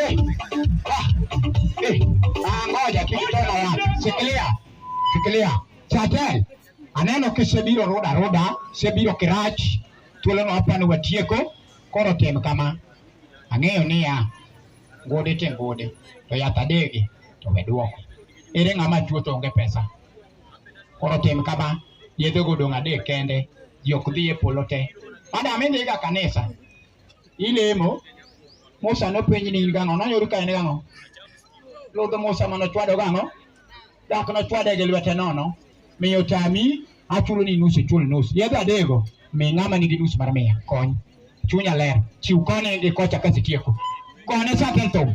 Eh, ah, eh, ah, ngoja tukitoka wapi? Shikilia, shikilia. Chatel, aneno kisebiro roda roda, sebiro kirach, thuolono hapa ni watieko, koro tem kama. Ang'eyo niya, gode te gode, to yath adege, to we duoko. Ere ng'ama tuo to onge pesa? Koro tem kama, yedhe godong' adek kende, ji ok dhi e polo te. Madam idhiga kanisa, Ilemo. Musa nopenji ni in gang'o? Nayudo ka en gang'o? Ludh Musa mane ochwado gang'o? Dak nochwade gi lwete nono. Miyo tami achulo ni nus ichul nus. Yedhe adego mi ng'ama nigi nus mar mia kony. Chunya ler. Chiw koni gi kocha kasitieko. Kone satan thum.